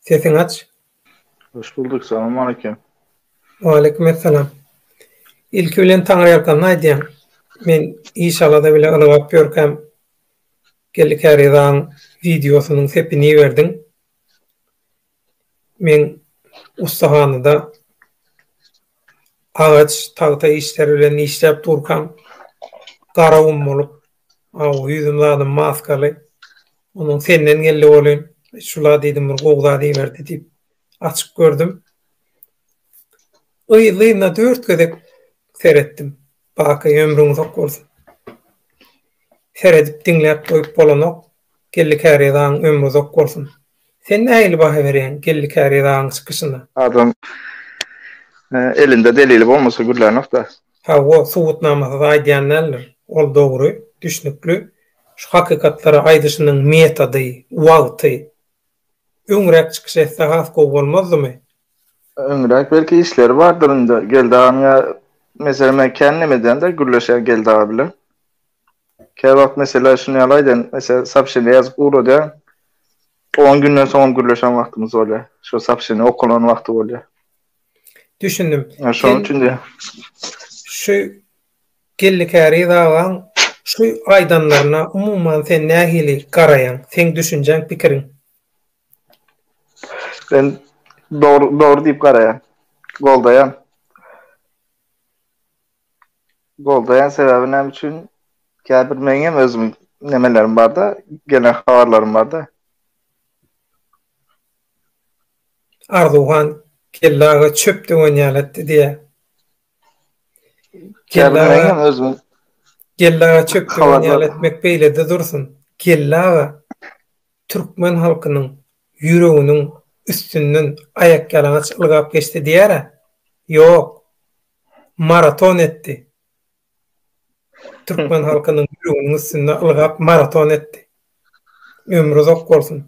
Sesiňi aç. Hoş bulduk, salam aleyküm. Aleyküm esselam. İlki bilen Taňryýalkanyny aýdýan. Men iş alada bile ylgap ýörkäm geldi käri zaň wideosynyň sepini iberdiň. Men ussahanada agaç, tagta işleri bilen işläp durkaň, gara gum bolup, aw, ýüzüm zadam maskaly. Onuň senden geldi welin, şula diýdim, bir gowy zat iberdi diýip, açyp gördüm. Yzly-yzyna dört gezek seretdim. Baky, ömrüň uzak bolsun. Seredip, diňläp goýup bolanok. Geldi käriýe zaň ömri uzak bolsun. Sen nähili baha berýäň Geldi Käri Ragyň çykyşyna? Adam elinde delili bolmasa gürlänok-da. Hawa, subutnamasyz aýdýan däldir. Ol dogry, düşnükli. Şu hakykatlary aýdyşynyň metody, wagty öňräk çykyş etse has gowy bolmazdymy? Öňräk belki işleri bardyr indi Geldi aganyň ýa, meselem men kän nemeden-de gürleşýän Geldi aga bilen. Kä wagt meselä şuny ýaly aýdan, meselä soobşeniýe ýazyp ugradýaň, on günden soňam gürleşen wagtymyz bolýar. Şo soobşeniýe okalan wagty bolýar. Düşündim. Ýa şonuň üçin diýýän. Şu Geldi Käriz agaň şu aýdanlaryna umuman sen nähili garaýaň? Seň düşünjäň, pikiriň? Men dogry dogry diýip garaýan. Goldaýan. Goldaýan sebäbi näme üçin? Käbir meň hem özüm nemelerim barda, gelen habarlarym barda. Arzuwhan Geldi aga çöp döwen ýaly etdi diýýär. Geldi aga hem özüm Geldi aga çöp döwen ýaly etmek beýlede dursun. Geldi aga türkmen halkynyň ýüreginiň üstünden aýakýalaňaç ylgap geçdi diýýär-ä. Ýok. maraton etdi. Türkmen halkynyň ýüreginiň üstünde ylgap maraton etdi. Ömri uzak bolsun.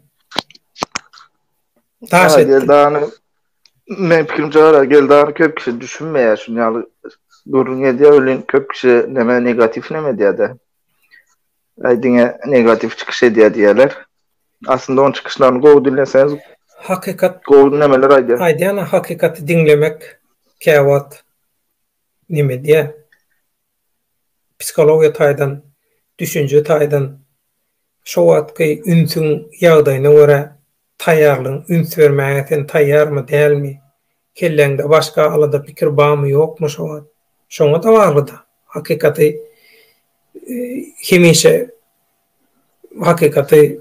Daş etdi. Geldany, men pikirimçe gara, Geldany köp kişi düşünmeýär şuny ýaly gürrüň edýär welin köp kişi neme negatiw neme edýär-de. Aý diňe negatiw çykyş edýär diýerler. Aslynda oň çykyşlaryny gowy diňleseňiz Hakykat gowy nemeler aýdýar. Aýdýan-a hakykaty diňlemek käwagt neme diýýär? Psihologiýa taýdan, düşünje taýdan şo wagtky ünsüň ýagdaýyna görä Taýýarlygyň üns bermäge sen taýýarmy, dälmi? Kelläňde başga alada pikir bamy ýokmy şo wagt? Şoňa-da bagly-da. Hakykaty hemişe hakykaty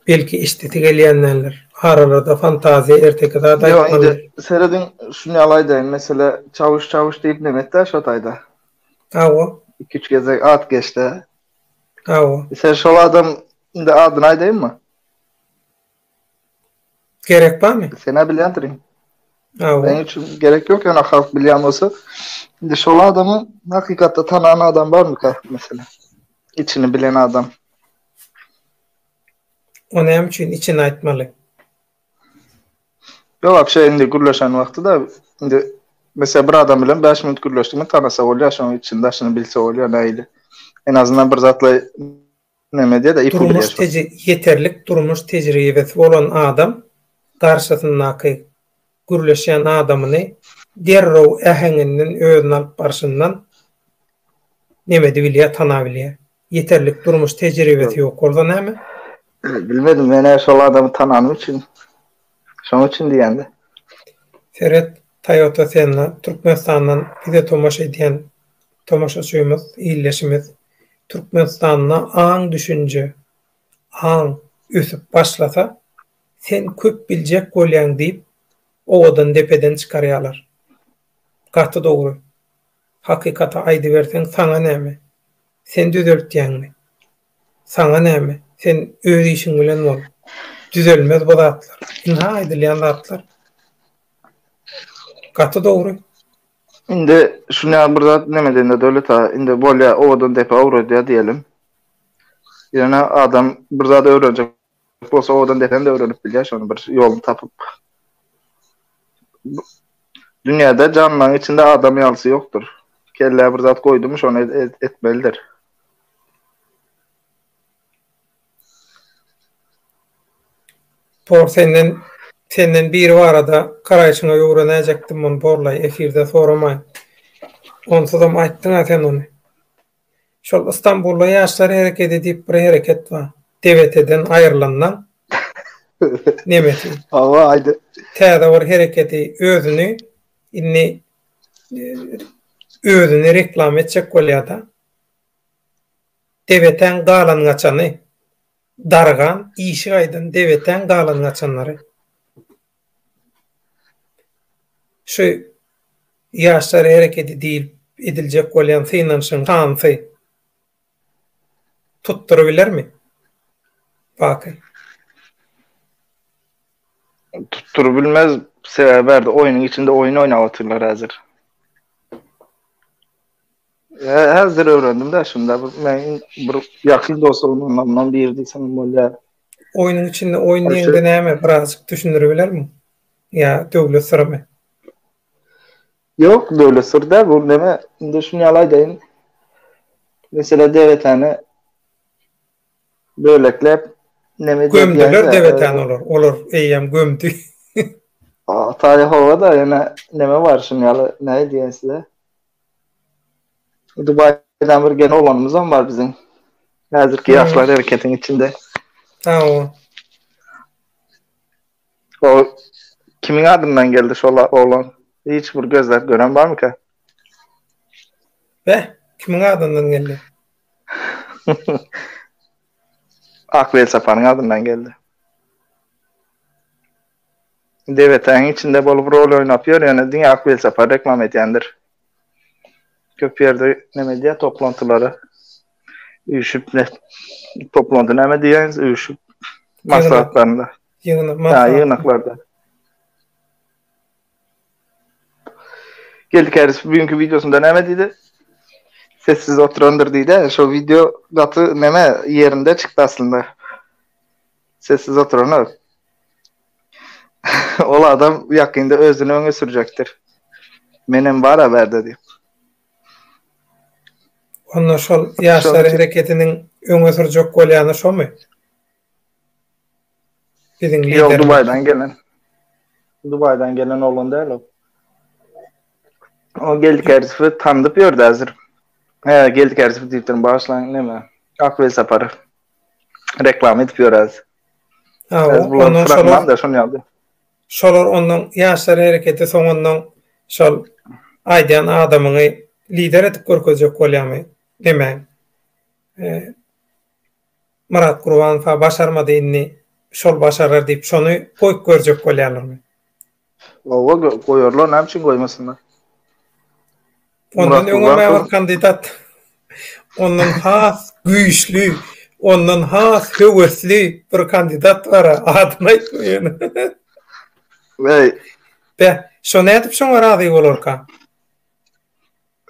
belki eşidesi gelýändendir. Aralarda fantaziýa erteki zat aýtmaly. Ýok, indi serediň, şuny ýaly aýdaýyn, mesele Çawuş, Çawuş diýip nem et-dä şo taýda. Hawa. Iki-üç gezek at geç-de. Hawa. Sen şol adam, indi adyny aýdaýynmy? Gerek barmy? Sen-ä bilýändirin. Hawa. Meniň üçin gerek ýok, ýöne halk bilýän bolsa. Indi şol adamy hakykatda tanan adam barmyka, meselem? Içini bilen adam. O näme üçin içini aýtmaly? Ýok, wapşe indi gürleşen wagty-da, indi meselem bir adam bilen bäş minut gürleşdiňmi, tanasa bolýar, şonuň içini-daşyny bilse bolýar, nähili? En azyndan bir zatlar Näme diýýär-de, iki ýüz ýaş bar. Ýeterlik durmuş tejribesi bolan adam garşysyndaky gürleşýän adamyny derrew äheňinden özüni alyp barşyndan näme edip bilýär, tanap bilýär. Ýeterlik durmuş tejribesi ýok bolsa näme? Bilmedim, men-ä şol adamy tananym üçin, şonuň üçin diýýän-de. Seret, Toyota Senna, Türkmenistandan bize tomaşa edýän Tomaşaçymyz, ildeşimiz Türkmenistanda aň düşünje, aň ösüp başlasa, sen köp biljek bolýaň diýip owadan depeden çykarýalar. Gaty dogry. Hakykaty aýdyberseň saňa näme? Sen düzeltýäňmi? Saňa näme? Sen öz işiň bilen bol. Düzelmez bu zatlar. Ynha aýdylýan zatlar. Gaty dogry. Indi şunyň bir zat näme diýende döwlet aga indi bolýa owadan depe owradýa diýelim. Ýöne adam bir zat öwrenjek bolsa owadan depem-de öwrenip bilýär şony bir ýoluny tapyp. Dünýäde janlaryň içinde adam ýalysy ýokdur. Kellä bir zat goýdumy şony etmelidir. Por senden senden biri barada garaýşyňa öwrenäjekdim muny borlaý efirde soramaý. Onsuzam aýtdyňa sen ony. Şol Istanbulda ýaşlar herekedi diýip bir hereket bar. DBT-den aýrylandan nemesi. Hawa aýdy. Täze bir hereketi özüni indi e, özüni reklama etjek bolýar-da. Debetäň galan-gaçany. Dargan, işik aýdan debetäň galan-gaçanlary. Şu ýaşlar herekedi diýlip ediljek bolýan synanyşyň hansy tutdurybilermi? Baky. Tutdurybilmez. Sebäbi bärde oýnuň içinde oýun oýnap otyrlar häzir. Häzir öwrendim-de şunda bir meniň bir ýakyn dostlarymdan biri diýsem bolýar. Oýnuň içinde oýun diýende näme birazajyk düşündire bilermiň? Ýa döwlet syrymy? Ýok, döwlet syry däl bu neme. Indi şuny ýaly aýdaýyn. Meselä DWT-ni bölekläp neme diýýär? Gömdüler DWT-ni olar. Olar eýýäm gömdi. Ata Ýehowa-da ýene neme bar şuny ýaly näme diýýän size? Dubaýdan bir gen oglanymyzam bar biziň. Häzirki hmm. ýaşlar hereketiň içinde. Ha o. O kimin adyndan geldi şol oglan? Hiç bir gözläp gören barmyka? Be, kimin adyndan geldi? Akbel Sapanyň adyndan geldi. Debetäň içinde bolup rol oýnap ýör ýöne diňe ak welsapar reklama edýändir. Köp ýerde neme edýär toplantylara üýşüp ne toplanty näme diýýäňiz üýşüp maslahatlarynda. Ýygnak maslahat. Ýa ýygnaklarda. Geldi käris bugünkü wideosynda näme diýdi? Sessiz oturandyr diýdi. Şo wideo gaty neme ýerinde çykdy aslynda. Sessiz oturan ol. ol adam ýakynda özüni öňe sürjekdir. Menem bar haberde diýip. Onda şol ýaşlar hereketiniň öňe sürjek bolýany şomy? Biziň liderimiz. Ýok, Dubaýdan gelen. Dubaýdan gelen oglan däl ol. O geldi kersifi tandyp ýördi häzir. He, geldi kersifi diýip durun, başlaň näme? Ak welsapar. Reklama edip ýöräs. Biz bulan fragman da şony aldy. Şolar ondan ýaşlar hereketi soňundan şol aýdýan adamyňy lider edip görkezjek bolýamy? Demäň. Myrat Gurbanowa başarmady indi şol başarar diýip şony goýup görjek bolýarlarmy? Oba goýarlar, näme üçin goýmasynlar? Ondan öňe mähir kandidat ondan has güýçli, ondan has höwesli bir kandidat bar, adyny aýtmaýan. Weý. Be, şo nädip şoňa razy bolarka?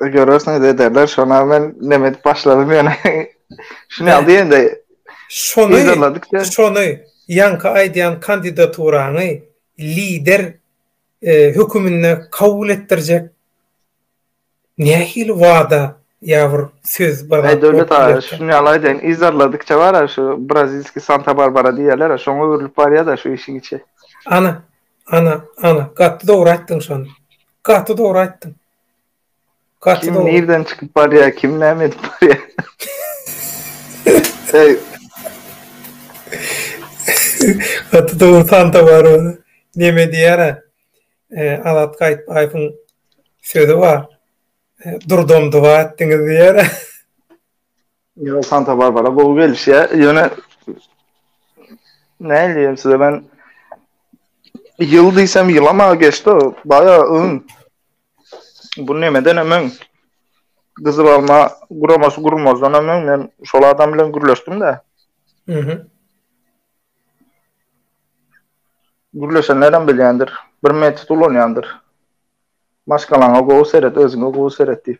Görersiňiz ederler şona men neme edip başladym ýöne. Şuny al diýende. Şony şony ýaňky aýdýan kandidaturaňy lider e, höküminde kabul etdirjek nähili wada ýa bir söz bir zat. Döwlet aga şuny al aýdaýyn izarladykça bar şu brazilski Santa Barbara diýerler şoňa öwrülip barýar da şu işiň içi. Ana ana ana gaty dogry aýtdyň şony. Gaty dogry aýtdyň. Kim nirden çykyp barýar, kim näme edip barýar? Eý. Gaty dogry Santa Baro neme diýýär-ä? Azat Gaýytbaýewiň sözi bar. Durdam doga etdiňiz diýýär. Yo Santa Barbara gowy gelişýär. Ýöne näil diýem size men ýyl diýsem ýylama geçdi. Baýa öň bu nemeden hem öň Gyzyl alma guramasy gurmazdan hem öň men şol adam bilen gürleşdim-de. Mhm. Gürleşenler hem bilýändir. Bir metod ulanýandyr. Maşgalaňa gowy seret, özüňe gowy seret diýip.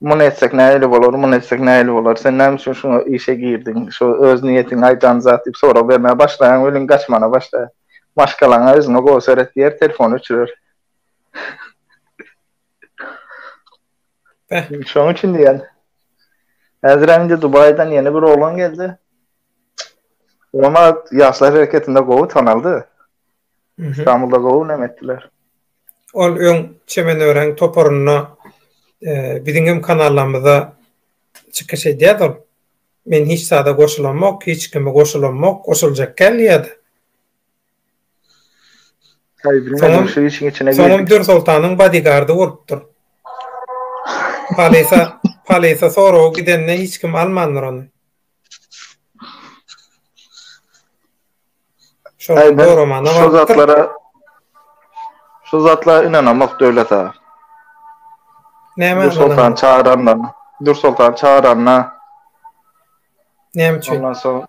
Muny etsek nähili bolar, muny etsek nähili bolar, sen näme üçin şu işe girdiň, şu öz niýetiňi aýdan zat diýip sorag bermäge başlaýaň welin gaçmana başlaýar. Maşgalaňa özüňe gowy seret diýer, telefony öçürer. Şonuň üçin diýýän. Häzirem indi Dubaýdan ýene bir oglan geldi. Oňa Ýaşlar hereketinde gowy tanaldy. Stambulda gowy näme etdiler. Ol öň Çemenören toparynda biziň hem kanallarymyzda çykyş edýärdi ol. Men hiç zada goşulamok, hiç kimi goşulamok, goşuljak gelýärdi. Soňam Dür Soltanyň bodygardy bolupdyr. Polisa, polisa soraga gidende hiç kim almandyr ony. Şu zatlara Şu zatlara inanamok Döwlet aga. Näme? Nur Sultan çagyranda, Nur Sultan çagyranda. Näme üçin? Ondan soň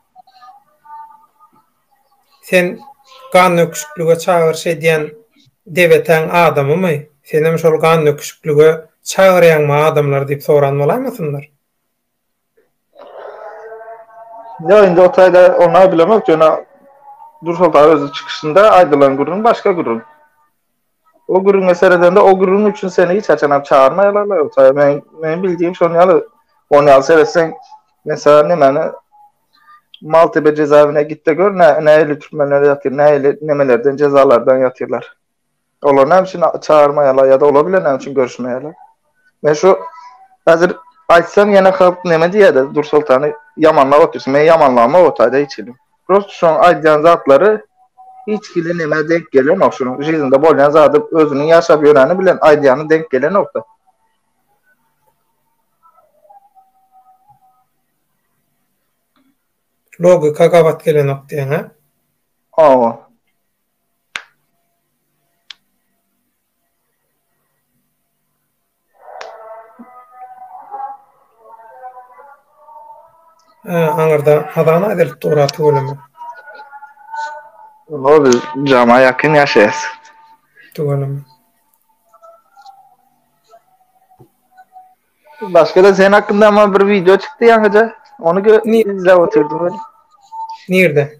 Sen gan döküşiklige çagyryş edýän debetäň adamymy? Senem şol gan döküşiklige çagyrýaňmy adamlary diýip soran bolaýmasynlar? Ýa indi o taýda oňa bilemok, ýöne Nursoltan özi çykyşynda aýdylan gürrüň başga gürrüň. O gürrüňe seredende, o gürrüň üçin seni hiç haçanam çagyrmaýarlar-la o taýda. Men, meniň bildiýim şonuň ýaly. Onuň ýaly seretseň, men sana nemäni, Maltepe jezaewine git-de gör, nä, nähili türmelerde ýatyr, nähili nemelerden, jezalardan ýatyrlar. Olar näme üçin çagyrmaýarlar ýa-da olar bilen näme üçin görüşmeýärler? Men şu häzir aýtsam ýene halk näme diýerdi? Dursoltany ýamanlap otyrsyň. Men ýamanlamok otaýda hiç hili. Prosta şoň aýdýan zatlary hiç hili nämä denk gelenok. Şoň jiznda bolýan zady özüniň ýaşap ýöreni bilen aýdýany denk gelenok-da. Logika gabat gelenok diýeňä? Hawa. Aňyrda hazana edilip durar tüweleme. Ol biz jama ýakyn ýaşaýas. Tüweleme. Başga-da sen hakynda ama bir video çykdy ýaňyja. Ony gö Ni- izläp otyrdym ben. Nirde?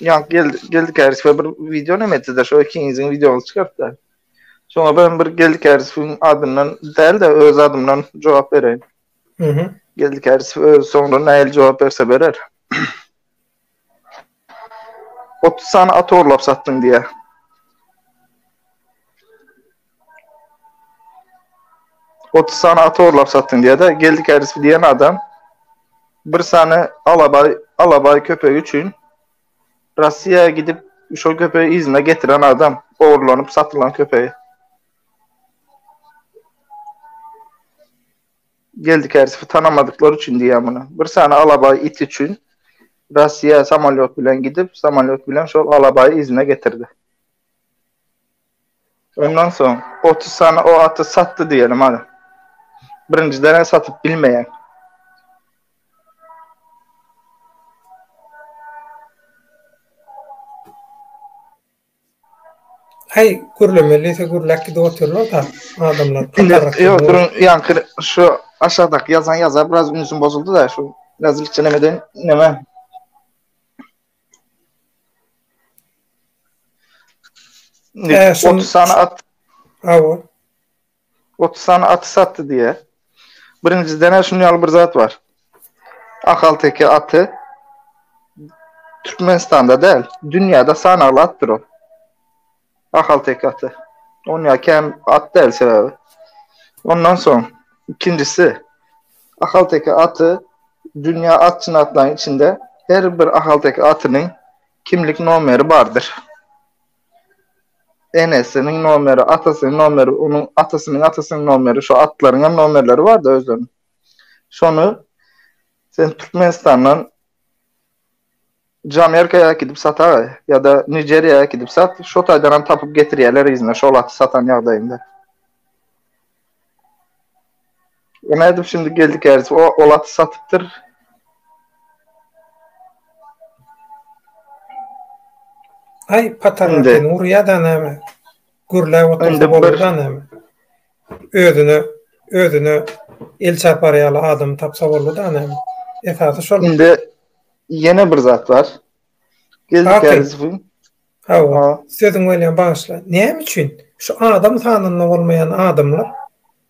Ýa gel geldi käris we bir wideo näme etdi-de şo ikiniziň wideoňyzy çykartdy. Şoňa ben bir geldi kärisiň adyndan däl-de öz adymdan jogap bereýin. Mhm. Geldi käris öz soňra nähili jogap berse berer. 30 sany at orlap satdyň diýýär. Otuz sany at orlap satdyň diýer-de, geldi kärisi diýen adam bir sany alabaý, alabaý köpegi üçin Russiýa gidip, şol köpegi yzyna getiren adam, ogurlanyp satylan köpegi. Geldi kärisi tanamadyklary üçin diýýär muny. Bir sany alabaý it üçin Russiýa samolýot bilen gidip, samolýot bilen şol alabaýy yzyna getirdi. Ondan soň otuz sany o aty satdy diýeli maňa. Birinjiden-ä satyp bilmeýär. Haý, gürlemelise gürläp gidip otyrlar-da adamlar. Ýok, duruň, ýaňky şu aşakdaky ýazan ýaza biraz ünsüm bozuldy-da, şu biraz ilçilemeden näme. Ee, şun- 30 sany at Hawa. 30 sany aty satdy diýýär. Birinjiden şunuň ýaly bir zat bar. Ahalteke aty Türkmenistanda däl, dünýäde sanagly atdyr ol. Ahalteke aty. On ýa kän at däl sebäbi. Ondan soň ikinjisi ahalteke aty dünýä atçyny atlaryň içinde her bir ahalteke atynyň kimlik nomeri bardyr. Enesiniň nomeri, atasynyň nomeri, onuň atasynyň atasynyň nomeri, şo atlaryň hem nomerleri bardy özleriniň. Şony sen Türkmenistandan Jamerkaya äkidip sataý ýa-da Nijeriýa äkidip sat, şo taýdanam tapyp getirýärler yzyna şol aty satan ýagdaýynda. O nädip şindi geldi käriz, o ol aty satypdyr. Aý patarlar seni urýa-da näme? Gürläp otursa bolur-da näme? özüne özüne el çapar ýaly adam tapsa boldy da näme esasy şol indi ýene bir zat bar geldik Hawa, sözüň welin bagyşla. Näme üçin şu adam sanynda bolmaýan adamlar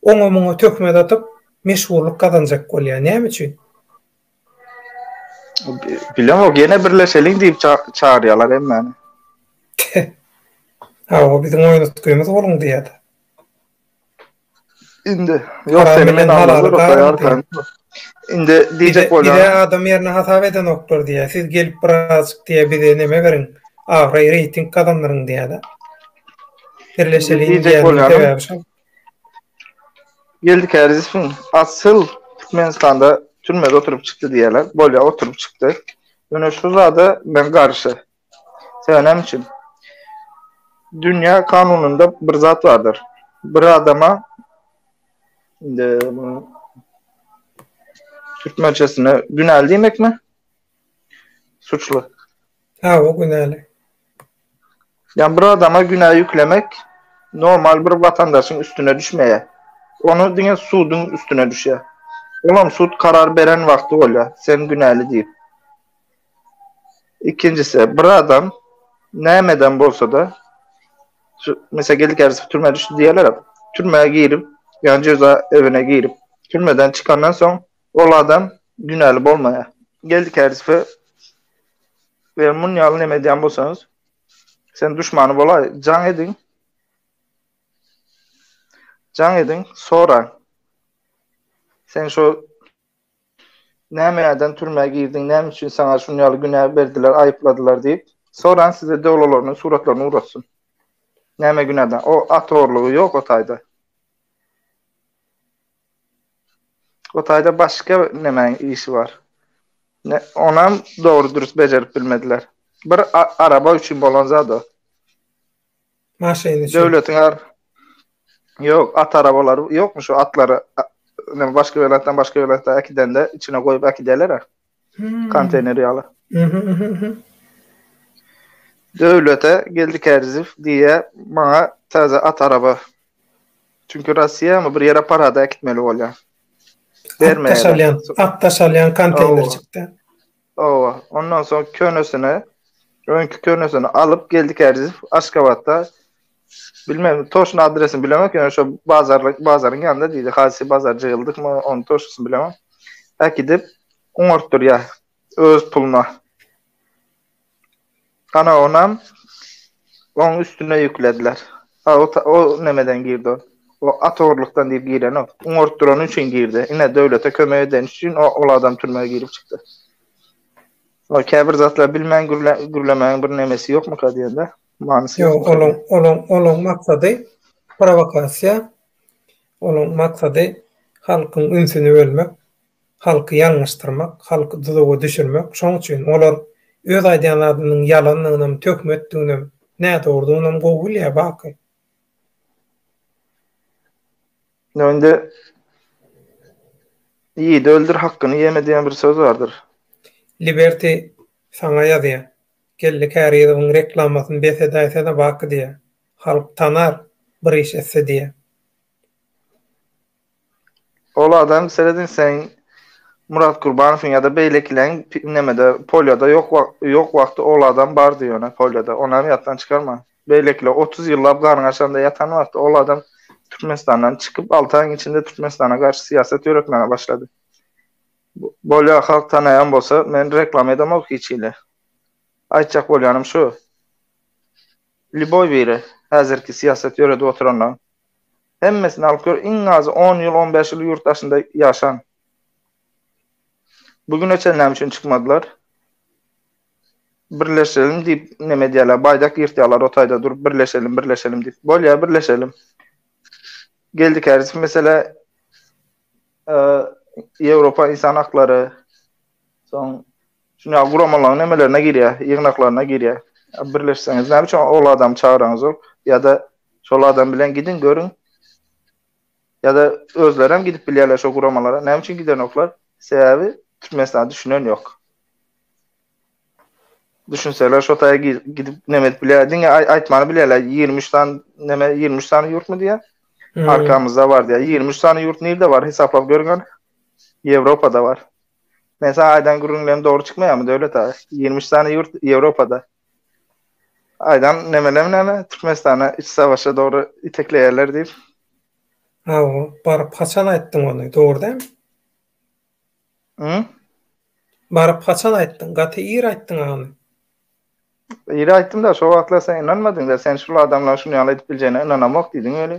oňa muňa töhmet atyp, meşhurlyk gazanjak bolýar. Näme üçin? Bilemok ýene birleşeliň diýip ça çagyrýalar hemmeni. Hawa biziň oýun utkymyz boluň diýýär. Indi ýok seni men almadyk goýarkan. Indi diýjek bolýan. Bize adam ýerine hasap edenoklar diýýär. Siz gelip birazjyk diýýär bize neme beriň. Abraý reýting gazandyryň diýýär-de. Birleşeliň diýýär. Geldi Kärizowyň asyl Türkmenistanda türmede oturyp çykdy diýýärler. Bolýar, oturyp çykdy. Ýöne şu zada men garşy. Sebäbi näme üçin? Dünýä kanunynda bir zat bardyr. Bir adama indi türkmençesine günäli diýmekmi? Suçly. Hawa, günäli. Ýa bir adama günä ýüklemek normal bir watandaşyň üstüne düşmeýär. Ony diňe suduň üstüne düşýär. Olam sud karar beren wagty bolýar, sen günäli diýip. Ikinjisi, bir adam nämeden bolsa-da, meselem, geldi käbesi türmä düşdi diýerler-ä, türmä girip, ýa-ni jeza öwine girip, türmeden çykandan soň Ol adam günäli bolmaýar. Geldik Härisowe Eger muny ýaly neme edýän bolsaňyz, sen duşmany bolaý, jaň ediň. Jaň ediň, soraň. Sen şu näme eden türmä girdiň, näme üçin saňa şuny ýaly günä berdiler, aýypladylar diýip, soraň size döwlalarynyň suratlaryny uratsyn. Näme günäden? O at orlugy ýok o taýda. O taýda başga nemäň işi bar? Ne, onam dogry-dürüst bejerip bilmediler. Bir araba üçin bolan zat o. Maşyn üçin. Döwletiň ar... Ýok, at arabalary ýokmy şu atlary başga welaýatdan başga welaýata äkidende içine goýup äkidýärler-ä. Konteýner ýaly. Döwlete geldi Kärziýew diýýä, maňa täze at araba. Çünki Rossiýamy bir ýere parada äkitmeli bolýa. Bermeýärler. At daşalýan konteýner çykdy. Owa, ondan soň könesini, öňki könesini alyp geldi Kärziýew Aşgabatda Bilmem, toşna adresini bilemok, ýöne şo bazarly, bazaryň ýanynda diýdi. Haýsy bazar jyýyldykmy, onuň toşnasyny bilemok. Äkidip, oňartdyrýar öz puluna. Ana onam oň üstüne ýüklediler. A o, o nämeden girdi o? O at ogurlykdan diýip girenok. Oňartdyrany üçin girdi. Ine, döwlete kömek edeni üçin o, ol adam türmä girip çykdy. O käbir zatlar bilmän gürle, gürlemäň bir nämesi ýokmyka diýende. Manysy ýok. Ýok, olaň, olaň, olaň maksady prowokasiýa, olaň maksady halkyň ünsüni bölmek, halky ýalňyşdyrmak, halky duzaga düşürmek. Şoň üçin olar öz aýdýan zadynyň ýalandygynam, töhmetdiginem, nädogrudygyňam gowy bilýär Baky. Ýa indi Ýigidi öldür, hakkyny ýeme diýen bir söz bardyr. Liberty saňa ýazýar. Geldi Kärizowyň reklamasyny bes edäýsene Baky diýýä. Halk tanar, bir iş etse diýýä. Ol adam serediň seň Murat Gurbanowyň ýa-da beýlekileň nemede polýada ýok ýok wagty ol adam bardy ýöne polýada onam ýatdan çykarma. Beýlekiler otuz ýyllap ganyň açanda ýatan wagty ol adam Türkmenistandan çykyp alty aýyň içinde Türkmenistana garşy syýasat ýöretmäge başlady. Bolýa halk tanaýan bolsa men reklama edemok hiç hili. Aýtjak bolýanym şu. Liboý biri häzirki syýasat ýöredip oturanlaň hemmesini alyp gör iň azy on ýyl on bäş ýyl ýurt daşynda ýaşan. Bu güne çen näme üçin çykmadylar? Birleşelim diýip neme edýäler baýdak ýyrtýalar o taýda durup birleşelim birleşelim diýip. Bolýa birleşelim. Geldi kärsiz mesele Ýewropa ynsan haklary soň şuny guramalaryň nemelerine girýär, ýygnaklaryna girýär. Birleşseňiz näme üçin ol adamy çagyraňyzok ýa-da şol adam bilen gidiň görüň. Ýa-da özlerem gidip bilýärler şo guramalara. Näme üçin gidenoklar? Sebäbi Türkmenistana düşünen ýok. Düşünseler şo taýa gidip näme edip bilýär. Diňe aýtmany bilýärler. 23 san näme 23 san ýurtmy diýýär. Arkamyzda bar diýýär. 23 san ýurt nirde bar? Hesaplap görgän. Ýewropada bar. Men sana aýdan gürrüňlerim dogry çykmaýarmy Döwlet aga? 23 san ýurt Ýewropada. Aýdan nämelem näme? Türkmenistana iç savaşa dogry itekleýärler diýip. Hawa, baryp haçan aýtdyň ony? Dogry däl. Hı? Baryp haçan aýtdyň? Gaty ir aýtdyň agam. Ir aýtdym da, şo wagtlar sen ynanmadyň da, sen şul adamlaryň şuny ýaly edip biljegine ynanamok diýdiň weli.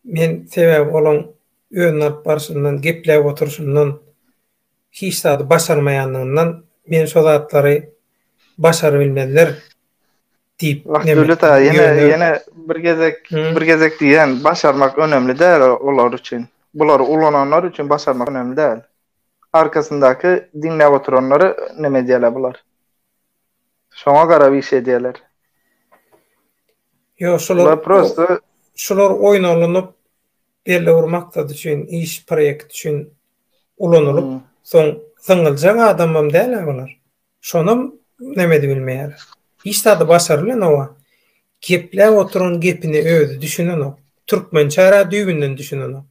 Men sebäbi olaň özüni alyp barşyndan, gepläp oturşyndan, hiç zady başarmaýandygyndan, men şo zatlary başarybilmezler. diýip Döwlet aga ýene ýene bir gezek bir gezek diýýän başarmak önemli däl olar üçin. Bulary ulananlar üçin başarmak önemli däl. Arkasyndaky diňläp oturanlary näme edýärler bular? Şoňa garap iş edýärler. Ýok şolar prosta şolar oýun alnyp belli bir maksat üçin iş proýekt üçin ulanylyp soň syňyljak adamam däl-ä bular. Şonam nämedi bilmeýär. Hiç zady başarylanok-a. Gepläp oturan gepine özi düşünenok. Türkmençä-ra düýbünden düşünenok.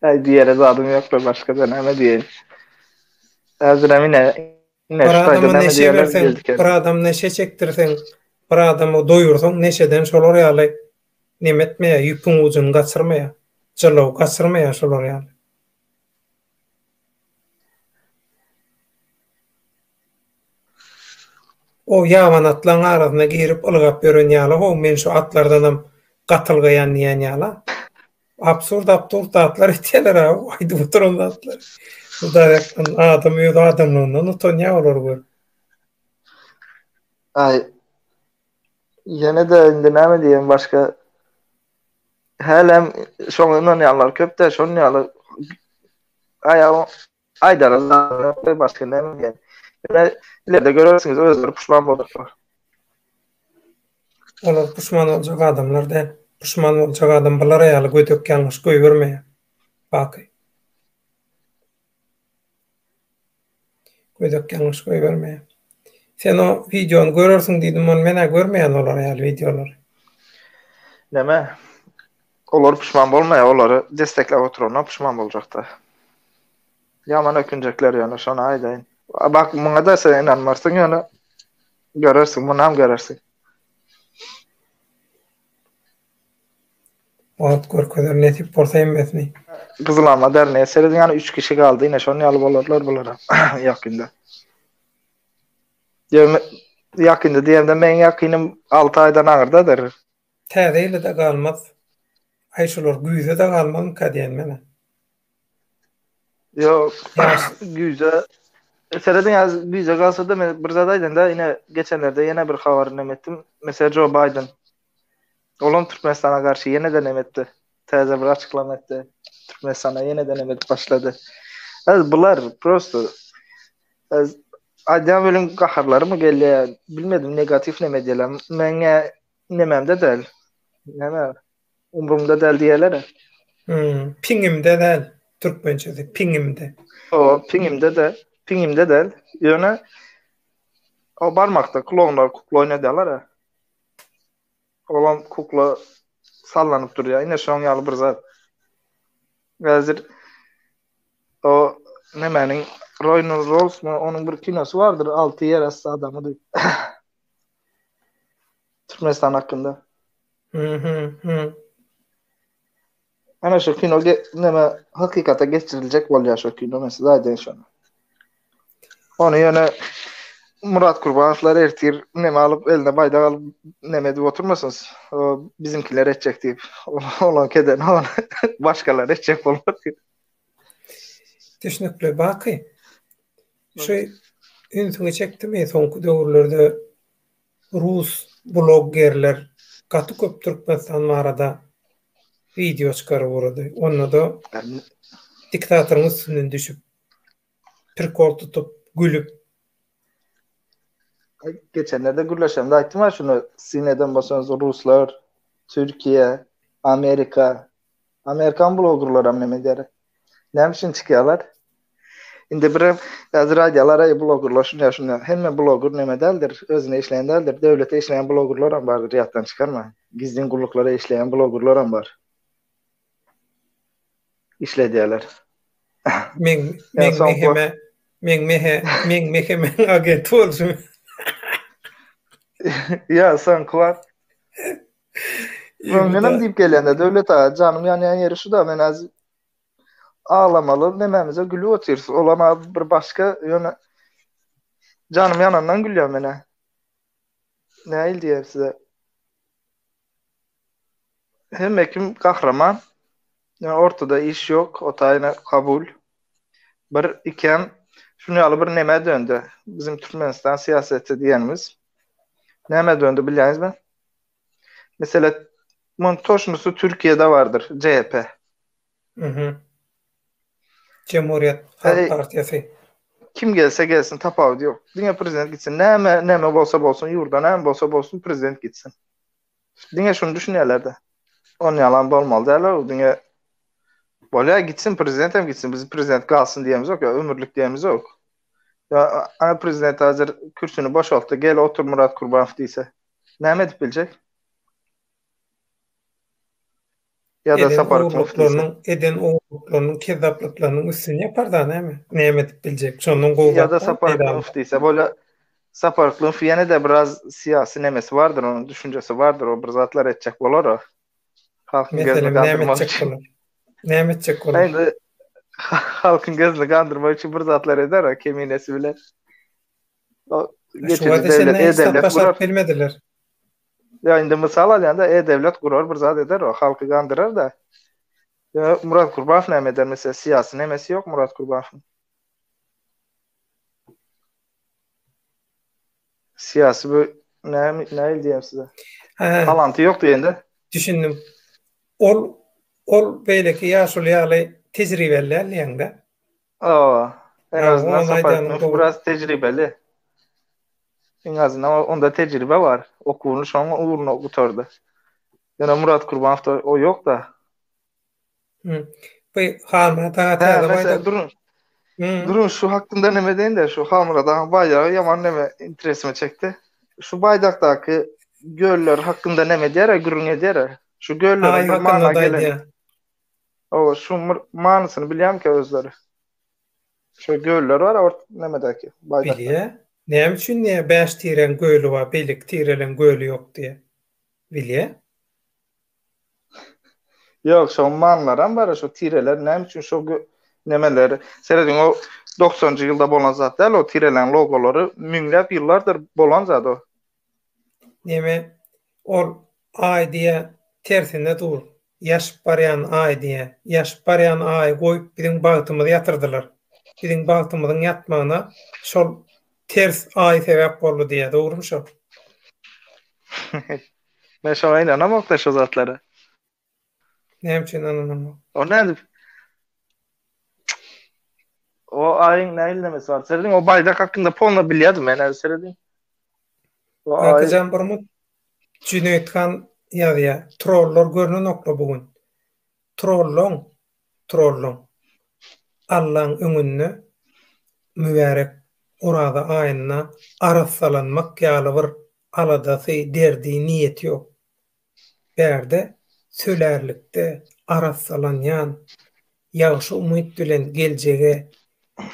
Äý diýere zadym ýok-da, başga-da näme diýeýin. Häzirem ine, Bir adama neşe berseň, bir adam neşe çekdirseň, bir adamy doýursaň, neşeden şolar ýaly neme etmeýär, ýüpüň ujuny gaçyrmaýar, jylaw gaçyrmaýar şolar ýaly. O ýaban atlaň arasyna girip ylgap ýören ýaly-how, men şu atlardanam gatylgaýan diýen ýala. Absurd absurd zatlar etýärler ha, aýdyp oturan zatlar. Hudaý ýakdan adam öz adamlygyndan utanýar olar gör. Aý. Ýene de indi näme diýen başga. Hälem şoňa ynanýanlar köpde, şonuň ýaly aýagyň Aýdara zat ýok, başga näme diýen. Ine, ileride görersiňiz, özleri puşman boljaklar. Olar puşman boljak adamlar däl. Puşman boljak adam bulara ýaly gödek ýalňyş goýbermeýär. Baky. Gödek ýalňyş goýbermeýär. Sen o wideony görersiň diýdim, ony men-ä görmeýän olara ýaly wideolary. Näme? Olar pişman bolmaýar, olary destekläp oturana pişman boljakda. Ýaman ökünjekler ýöne şony aýdaýyn. Bak muňada sen ynanmarsyň ýöne görersiň, munam görersiň. Wagt görkezer nesip bolsa hemmesini. Gyzyl alma derneýe serediň ýaly üç kişi galdy ine şonuň ýaly bolarlar bulara ýakynda. Ýöne ýakynda diýemde meň ýakynym alty aýdan aňyrdadyr. Täze ýyla-da galmaz. Aý şular güýze-de galmazmyka diýen menä. Ýok. Güýze Serediň häzir güýze galsa-da men bir zat aýdaýyn-da, ine geçenlerde ýene bir habar näme etdim. Meselem Joe Biden. Olam Türkmenistana garşy ýene-de näme etdi. Täze bir açyklama etdi. Türkmenistana ýene-de näme edip başlady. Häzir bular prosto aýdýan welin gaharlarymy gelýär. Bilmedim negatiw näme diýeler. Meňe Nememde däl. Neme? Umrumda däl diýerler. Hmm, piňimde däl. Türkmençesi piňimde. O, piňimde de, piňimde däl. Ýöne o barmakda klonlar kukla oýnadýarlar. Olam kukla sallanyp durýar. Ine şoň ýaly bir zat. Häzir o nemäniň Royner Rolls mu, onuň bir kinosy bardyr, alty ýer asty adamy diýip. Türkmenistan hakkında. Hı hı hı. Ana şu kino neme hakikata geçiriljek bolýar şu kino men size aýdaýyn şony. Ony ýöne Murat Kurbanowlar ertir neme alyp eline baýdak alyp neme edip oturmasyn. Bizimkiler etjek diýip. Ola keden ol başgalar etjek bolmaz. Düşünükli baky. Şu ünsüňi çekdimi soňky döwürlerde rus bloggerler gaty köp Türkmenistan barada wideo çykaryp ugrady. Onda-da diktatoryň üstünden düşüp, prikol tutup, gülüp. Geçenlerde gürleşende aýtdym ha şuny, siz neden bolsaňyz ruslar, Türkiýe, Amerika, Amerikan blogerlaram näme edýär? Näme üçin çykýarlar? Indi birem häzir aýdýarlar, eý blogerler şunýa şunýa. Hemme bloger näme däldir, özüne işleýän däldir. Döwlete işleýän blogerlaram bardyr, ýatdan çykarma. Gizlin gulluklara işleýän blogerlaram bar. Işledýärler. Meň meň meheme meň mehe meň meheme agent bolsun. Ýa, soňky wagt Öňdenem diýip gelende Döwlet aga janym ýanýan ýeri şu da men az aglamaly nemämize gülüp otyrys. Olam az bir başga ýöne janym ýanandan gülýän menä. Näil diýer size. Hemme kim gahraman. Ýa ortada iş ýok, otaýyna kabul. Bir ikem şuny ýaly bir neme döndi. Bizim Türkmenistan syýaseti diýenimiz. Näme döndi bilýäňizmi? Mesela bunun toşnusy Türkiye'de vardır. CHP. Hı hı. Cumhuriyet Halk e, Partiyası. Kim gelse gelsin tapavut yok. Dine prezident gitsin. Neme, neme olsa olsun yurda neme olsa olsun prezident gitsin. Dine şunu düşünüyorlar da. On yalan olmalı derler. Dine Bolya gitsin prezident hem gitsin. Biz prezident kalsın diyemiz yok ya. Ömürlük diyemiz yok. Ya, ana prezident hazır kürsünü boşalttı. Gel otur Murat Kurbanov diyse. näme edip biljek? Ýa-da sapar gurluşlarynyň eden gurluşlarynyň kezzaplarynyň üstüni ýapar-da näme? Näme edip biljek? Şondan gowy. Ýa-da sapar gurluş diýse bola. Sapar gurluş ýene-de biraz syýasy nemesi bardyr, onuň düşünjesi bardyr, o bir zatlar etjek bolar o. Halkyň gözüni gandyrmak üçin. Näme etjek bolar? Näme etjek bolar? Halkyň gözüni gandyrmak üçin bir zatlar eder o keminesi bilen. geçici döwlet e-döwlet gurar. Bilmediler. Ya indi misal alýanda e-döwlet gurar bir zat eder o halky gandyrar da. Ya Murat Kurbanov näme eder mesela siyasi nemesi yok Murat Kurbanov'un. Siyasi bu ne ne diyeyim size. Talantı yok diyende. Düşündüm. Ol ol beýleki ýaşuly ýaly tejribeli däldi ýaňda. Hawa, en azyndan Saparykmyf biraz tejribeli. En azyndan onda tejribe bar. Okuwyny şoň ugruna gutardy. Ýöne Murat Kurbanow o ýok-da. Hı. Bu Halmyrat aga täze baýda. Durun. Durun şu hakynda näme deýin-de, şu Halmyrat aga baýdagy ýaman näme interesimi çekdi. Şu baýdakdaky göller hakynda näme edýär-ä, gürrüň edýär-ä? Şu gölleriň bir manyna gelen. Oba şu manysyny bilýämkä özleri? Şu göller bar ort nemedäki baýdak. Bilýä. Näme üçin diýýä bäş tireň göli bar beýleki tireleň göli ýok diýýä. Bilýä. Ýok şoň manylaram bar şu tireler näme üçin şo nemeleri serediň o doksanjy ýylda bolan zat däl o tireleň logolary müňläp ýyllardyr bolan zat o Neme ol Aý diýä tersine dur. Ýaşyp barýan Aý diýä. Ýaşyp barýan Aýy goýup biziň bagtymyzy ýatyrdylar. Biziň bagtymyzyň ýatmagyna şol ters Aý sebäp boldy diýä. Dogrymy şo? Men şoňa ynanamokda şo zatlara. Näme üçin ynanamok? O nädip? O aýyň näýlemesi bar? Serediň, o baýdak hakynda polna bilýärdim men, häzir serediň. O aý... Akajan bir mut Jüneýt han ýazýa. Trollar görnen okla bu gün. Trollon, trollon. Allaň öňünde mübärek oraza aýynda arassalanmak ýaly bir aladasy, derdi, niýeti ýok. bärde sölärlikde arassalanýan ýagşy umyt bilen geljege,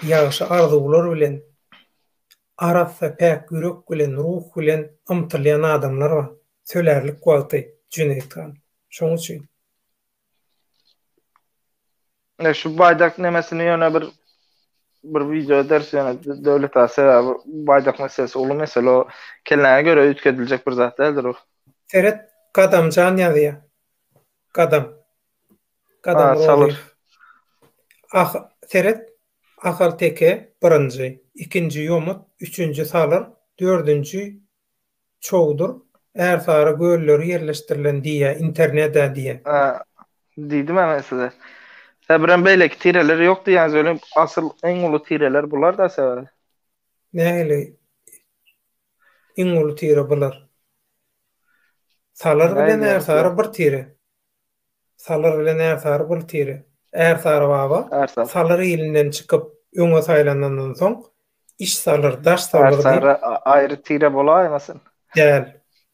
ýagşy arzuwlar bilen, arassa päk ýürek bilen, ruh bilen ymtylýan adamlar bar. Sölärlik wagty, Jüneýit han. Şoň üçin. Ne şu baydak nemesini yöne bir bir video ders yöne devlet asa ya bu baydak meselesi ulu mesele o kelläňe göre ütkediljek bir zat däldir o. Seret Gadamjan ýazýar. Gadam. Gadam ha, Roziýew. Ah, seret Ahal teke birinji, ikinji ýomut, üçünji salyr, dördünji Çowdur, Ärsary gölleri ýerleşdirilen diýýä interneda diýe. Hä, diýdimä men size. Sebirem beýleki tireler ýok diýýäňiz welin, asyl iň uly tireler bular-da sebir. Nähili iň uly tire bular? Salyr bilen Ärsary bir tire. Salyr bilen Ärsary bir tire. Ärsary baba Ärsary. Salyr ilinden çykyp, öňe saýlanandan soň, iş Salyr, daş Salyr diýip. Ärsary aýry tire bolaýmasyn? Däl.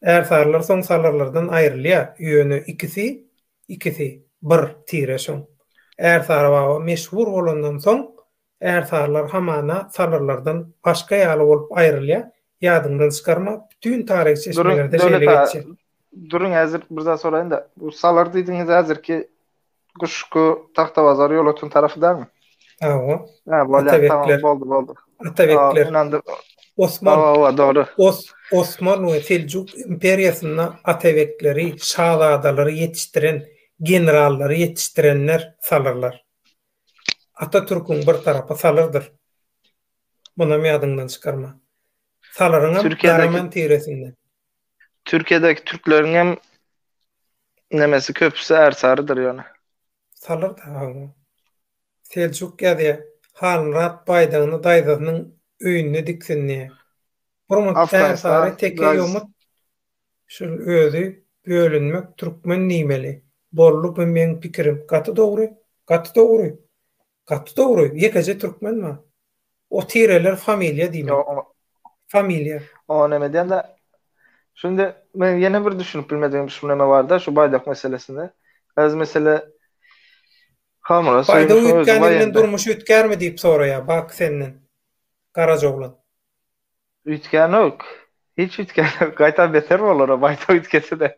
Ärsarylar soň Salyrlardan aýrylýar, ýöne ikisi, ikisi, bir tire şoň. Ärsary baba meşhur bolandan soň, Ärsarylar hamana sarylardan başga ýaly bolup aýrylýar, ýadyňdan çykarma, bütin taryhy çeşmelerde şeýle geçýär. Duruň häzir bir zat soraýyn-da, bu salar diýdigiňiz häzirki Guşgy, Tagtabazar, Ýolöten tarapy dälmi? Hawa. Hä, bolýar, tamam, boldy, boldy. Atabekler. Ynandyk. Osman. Hawa, hawa, dogry. Os, Osman we Seljuk imperiýasynda atabekleri, şazadalary ýetişdiren, generallary ýetişdirenler salyrlar. Atatürküň bir tarapy salyrdyr. Munam ýadyňdan çykarma. Salyryňam Garaman tiresinden. Türkiýedäki türkleriňem nemesi köpüsi ärsarydyr ýöne. Salyr da hawa. Seljuk ýazýar. Halmyrat baýdagyny daýzasynyň öýünde diksindi. Burma ärsary teke ýomut Şul özi bölünmek türkmen diýmeli bolly bu meň pikirim gaty dogry gaty dogry gaty dogry ýekeje türkmen bar o tireler familiýa diýmeli familiýa. O neme diýende şunda men ýene bir düşünip bilmedigim şu neme barda şu baýdak meselesinde öz mesele hamyra söýmüşiň özi baý indi. Baýdak üýtgänini bilen durmuş üýtgärmi diýip soraýar Baky senden Garajoglan. Üýtgänok. Hiç üýtgänok. Gaýtam beter bolara baýta üýtgese-de.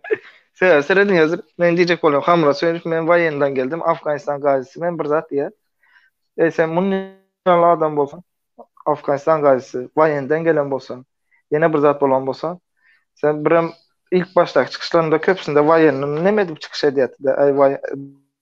Sebäbi serediň häzir meniň diýjek bolan Hamyrat Söýünow men waýendan geldim, Afganistan gazisi men bir zat diýýär. Eý sen muny ýaly adam bolsaň, Afganistan gazisi, waýenden gelen bolsaň, ýene bir zat bolan bolsaň, sen birem ilk başdaky çykyşlarynda köpüsinde waýendan neme edip çykyş edýärdi-de, äý waý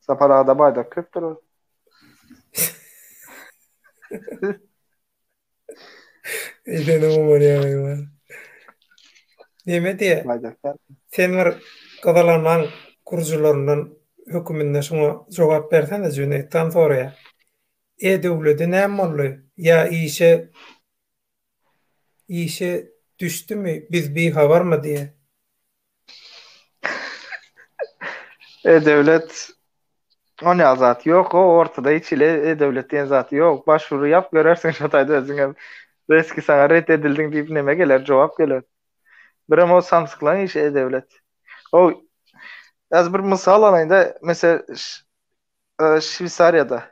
Sapar aga da baýdak köpdür ol. Eýsene umar ýaýma. Neme diýe? Baýdaklar. Sen bir gyzylanmaň gurjularyndan höküminde şuňa jogap bersene Jüneýtdan soraýa. E döwledi näme boldy? Ýa işe işe düşdümi biz bihabarmy diýe. E-döwlet Ony azat ýok, o ortada hiç ile e-döwlet diýen zat ýok. Başwuru ýap görersiň şo taýda özüň hem. Reski saňa ret edildiň diýip neme geler, jogap geler. Birem o samsyklaň işi e-döwlet. O Häzir bir mysal alaýynda, mesel Şweýsariýada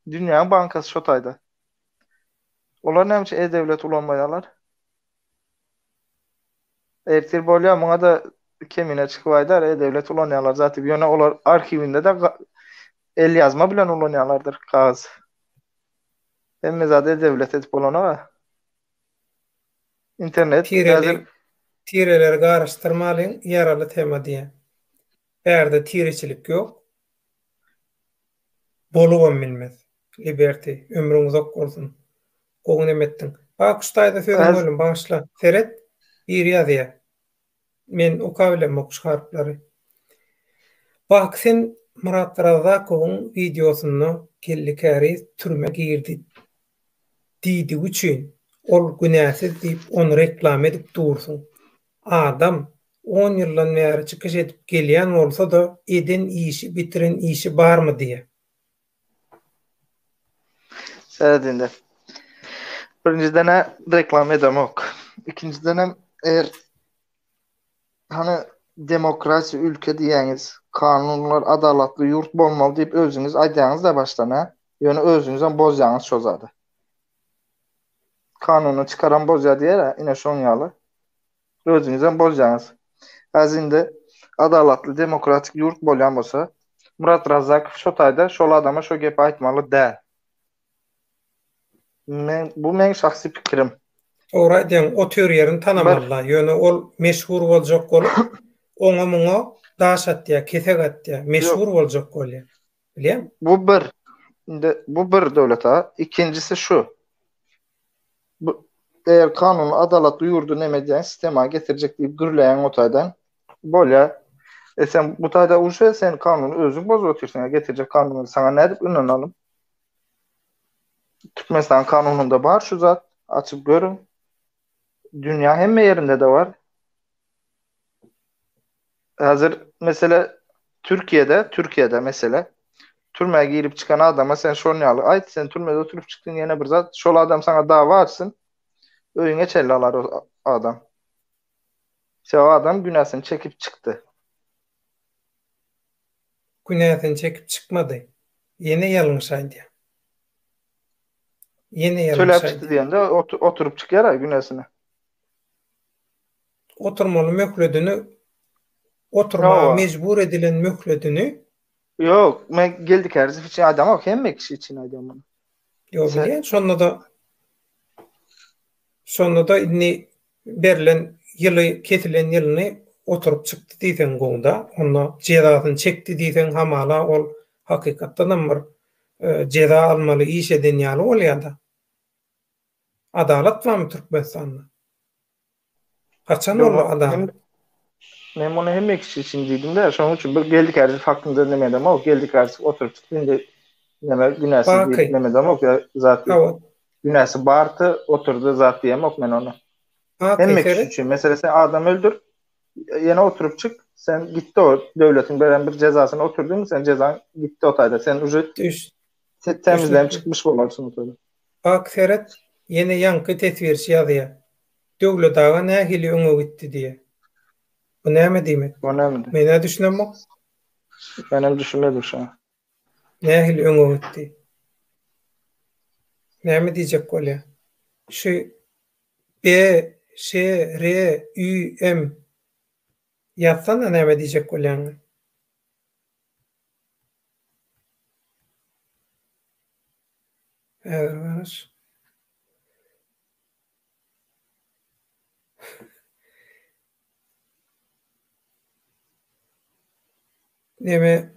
dünýäň bankasy şo taýda. Olar näme üçin e-döwlet ulanmaýarlar? Ertir bolýar, muňa-da Kemine çykyp aýdar, e-döwlet ulanýarlar zat diýip. Ýöne olar arhiwinde-de elýazma bilen ulanýarlardyr kagyz. Hemme zady e-döwlet edip bolanok-a. Internet häzir Tireleri garyşdyrmalyň, ýaraly tema diýýä. Bärde tireçilik ýok. Bolubam bilmez. Liberty, ömrüň uzak bolsun. Gowy neme etdiň. Bakuş daýza sözüňi Öz- böldüm bagyşla. Seret. Biri ýazýa. Men oka bilemmi okuş harplary. Baky sen Myrat Razzakowyň wideosynda Geldi Käriz türmä girdi diýdigi üçin ol günäsiz diýip ony reklama edip dursuň. Adam on ýyldan bäri çykyş edip gelýän bolsa-da eden işi bitiren işi barmy diýä. Şeýle indi. Birinjiden-ä reklama edemok. Ikinjiden hem eger hany demokratiýa ülke diýýäňiz, kanunlar adalatly ýurt bolmaly diýip özüňiz aýdýaňyz-da başdan-ä. Ýöne özüňizem bozýaňyz şo zady. Kanuny çykaran bozýar diýer-ä, ine şoň ýaly. Özüňizem boljaňyz. Azynda adalatly demokratik ýurt bolýan bolsa, Murat Razzakow şo taýda şol adama şo gepi aýtmaly däl. Men bu meň şahsy pikirim. Dogry aýdýaň, otyr ýerini tanamalyda, ýöne ol meşhur boljak bolup, oňa muňa daş atýar, kesek atýar, meşhur boljak bolýar. Bilýäňmi? Bu bir. Indi bu bir Döwlet aga. Ikinjisi şu. Bu eger kanun adalatly ýurdy neme edýän sistema getirjek diýip gürleýän o taýdan. Bolýa. E sen bu taýda uşe sen kanuny özüň bozup otyrsyň. E getirjek kanuny saňa nädip ünanalym? Türkmenistan kanunynda bar şu zat. Açyp görüň. Dünýä hemme ýerinde de bar. Hazır mesela Türkiye'de, Türkiye'de mesela türmä girip çykan adama sen şon ýaly aýt, sen türmede oturyp çykdyň ýene bir zat, şol adam sana dawa açsyn, öýüňe çenli alar o adam. Sebäbi adam günäsini çekip çykdy. Günäsini çekip çykmady. Ýene ýalňyş aýdýar. Ýene ýalňyş aýdýar. Töläp çykdy diýende oturyp çykýar-a günäsini. oturmaly möhledini oturmaga mejbur edilen möhledini Yok, men geldik her zif için adam yok, hem kişi için adam yok. Yok, Sen... şonda da şonda da inni berlen yılı kesilen yılını oturup çıktı diysen gunda, onda cezasını çekti diysen hamala ol hakikatdan hem bir e, ceza almalı iş eden yalı ol ya da. Adalat var mı Türkmenistan'da? Haçan boldy adam? Men muny hemme kişi üçin diýdim-de, şonuň üçin bir geldikäri faktynda neme edemok, geldikäri oturyp indi neme günäsi diýip neme edemok, zat diýip. Günäsi bardy, oturdy zat diýemok men ony. Hemme kişi üçin, meselem sen adam öldür, ýene oturyp çyk, sen gitdi o döwletiň beren bir jezasyny oturdyň, sen jezaň gitdi o taýda, sen uje temizlenip çykmyş bolarsyň o taýda. Bak seret, ýene ýaňky teswirçi ýazýar. Döwlet aga nähili öňe gitdi diýýär. Bu näme diýmek? Bu näme diýmek? Men-ä düşünemok. Menem düşünmedim şo. Nähili öňe gitdi? Näme diýjek bolýar? Şu B, Ş, R, Ü, M ýazsana näme diýjek bolýanyny. Häzir garaş. Neme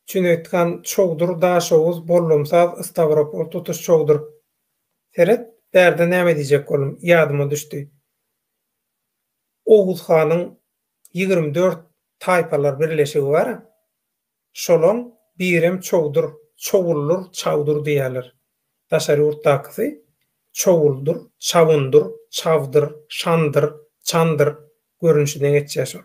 Jüneýit han Çowdur, Daşoguz, Bollumsaz, Stawropol tutuş Çowdur. Seret, bärde näme diýjek boldum, ýadyma düşdi. Oguz hanyň ýigrimi dört taýpalar birleşigi bar. Şolaň birem Çowdur, Çowuldur, Çawdur diýýärler. Daşary ýurtdakysy Çowuldur, Çawundur, Çawdyr, Şandyr, Çandyr görnüşine geçýär şol.